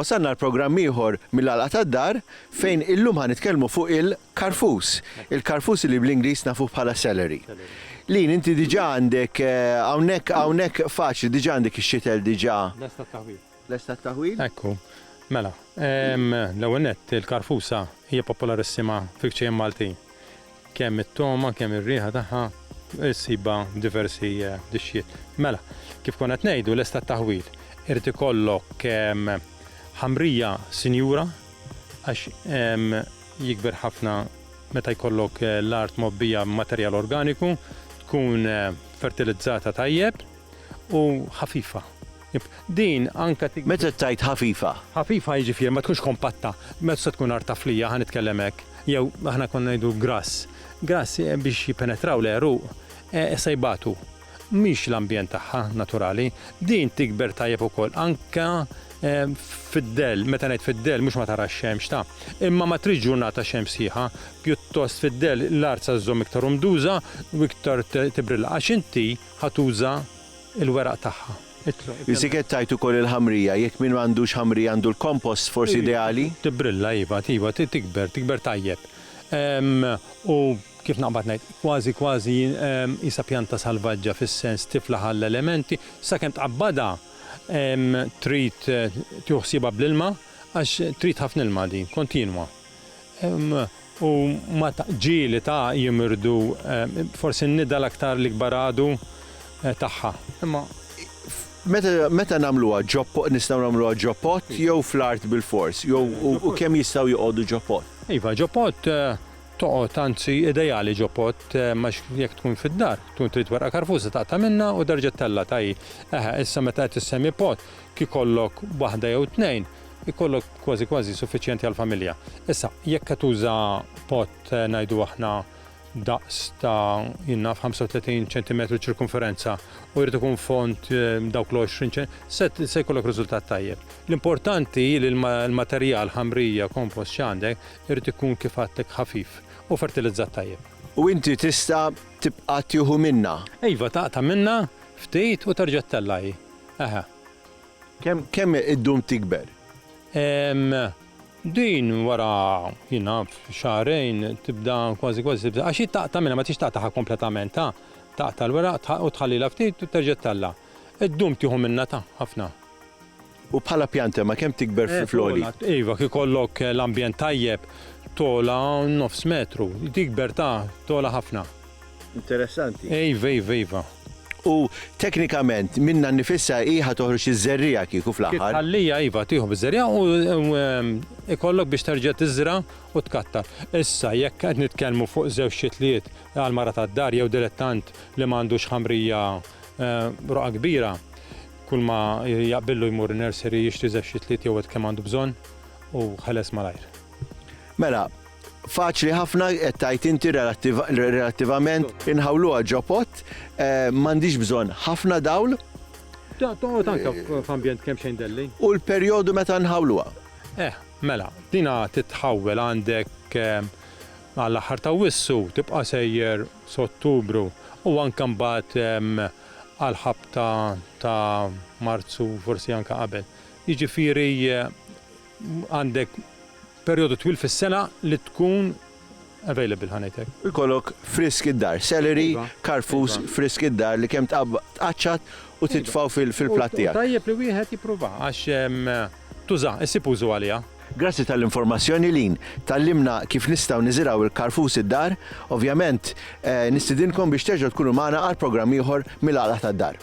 Wasalna għal programm ieħor mill-għalqa tad-dar fejn illum ħan nitkellmu fuq il-karfus. Il-karfus li bl-Ingliż nafu bħala celery. Lin inti diġà għandek eh, hawnhekk hawnhekk faċli diġà għandek ix-xitel diġà. Lesta taħwil. Lest għat-taħwil? Ekku. Mela, l-ewwel nett, il-karfusa hija popolarissima fil-kċejjen Maltin. Kemm it-togħma, kemm ir-riħa tagħha ssibha f'diversi dixxiet. Mela, kif konna qed ngħidu, lest għat-taħwil. Irid ikollok ħamrija sinjura għax jikber ħafna meta jkollok l-art mgħobbija b'materjal organiku, tkun fertilizzata tajjeb. u ħafifa. Din anke tik. Meta tgħid ħafifa? Ħafifa jiġifieri ma tkunx kompatta, ma tista' tkun art taflija, ħa nitkellem hekk, jew aħna konna ngħidu grass. Grass biex jippenetraw l-għeruq se jbatu. Mhix l-ambjent tagħha naturali. Din tikber tajjeb ukoll anke fid-dell, meta ngħid fid-dell mhux ma tarax xemx ta', imma ma tridx ġurnata xemx sħiħa, pjuttost fid-dell l-art se żżomm iktar umduża u iktar tibrilla għax inti Ħa tuża l-weraq tagħha. Biżżejjed tgħid ukoll il-ħamrija, jekk min m'għandux ħamrija għandu l-compost forsi ideali? Tibbrilla iva, iva tikber, tikber tajjeb. U kif naqbad ngħid, kważi kważi qisha pjanta salvaġġa fis-sens tiflaħ għall-elementi, sakemm tqabbadha trid tieħu ħsiebha bl-ilma għax trid ħafna ilma din, kontinwa. U ma ta' ġieli ta' jimirdu forsi n-nida l-aktar l-ikbar għadu tagħha. Imma meta meta nagħmluha ġo po nistgħu nagħmluha ġo pot jew fl-art bilfors? Jew u u kemm jistgħu joqogħdu ġo pot? Iva, ġo pot toqgħod anzi ideali ġo pot għax jekk tkun fid-dar tkun trid werqa karfuża taqta' minnha u terġa' ttellgħatha hi. Eħe, issa meta qed issemi pot kikollok waħda jew tnejn Ikollok kważi kważi suffiċjenti għall-familja. Issa, jekk qed tuża pot ngħidu aħna daqs ta' jien naf 35 ċentimetru ċirkumferenza u jrid ikun fond dawk l-20 ċen, se se jkollok riżultat tajjeb. L-importanti li l-materjal, ħamrija, kompost x'għandek, irid ikun kif għadtlek ħafif u fertilizzat tajjeb. U inti tista' tibqa' tieħu minnha? Iva, taqta' minnha ftit u terġa' ttellgħa hi. Eħe. Kemm kemm iddum tikber? Ehm, din wara, jien naf, xahrejn tibda kważi kważi tibda, għax hi taqta' minnha ma tridx taqtagħha kompletament, ta', taqta' l-weraq tħa u tħallilha ftit u terġa' tella'. Iddum tieħu minnha ta', ħafna. U bħala pjanta ma kemm tikber fi fl-għoli? Eh, togħla, iva, kif ikollok l-ambjent tajjeb, togħla nofs metru. Tikber ta', togħla ħafna. Interessanti. Iva, iva, iva. U teknikament minna nifissa hi ħa toħroġ iż-żerriegħa kieku fl-aħħar. Ħallija iva tieħu biż-żerriegħa u ikollok biex terġa' tiżra' u tkatta. Issa jekk qed nitkellmu fuq żewġ xitliet għal mara tad-dar jew dilettant li ma għandux ħamrija roqgħa kbira, kulma jaqbillu jmur in-nursery jixtri żewġ xitliet jew għed kemm għandu bżonn u ħeles malajr. Mela, Faċli ħafna qed tgħid inti relattivament inħawluha ġopot, eh, m'għandix bżonn ħafna dawl. Toqgħod anke f'ambjent kemm xejn delli. U l-perjodu meta nħawluha. Eh, mela, dina titħawwel għandek eh, għall aħħar ta' wissu tibqa' sejjer s'Ottubru u anke mbagħad eh, għal ħabta ta' Marzu forsi anke qabel. Jiġifieri għandek Perjodu twil fis-sena li tkun available ħa ngħid hekk. Jkollok frisk id-dar, celery, karfus, frisk id-dar li kemm tqaċċat u titfgħu fil-platt tiegħek. U tajjeb li wieħed jippruvah għax tużah, issib użu għaliha. Grazzi tal-informazzjoni Lynn, tgħallimna kif nistgħu niżirgħu l-karfus id-dar, ovvjament nistidinkom biex terġgħu tkunu magħna għal programm ieħor mill-Għaqda tad-Dar.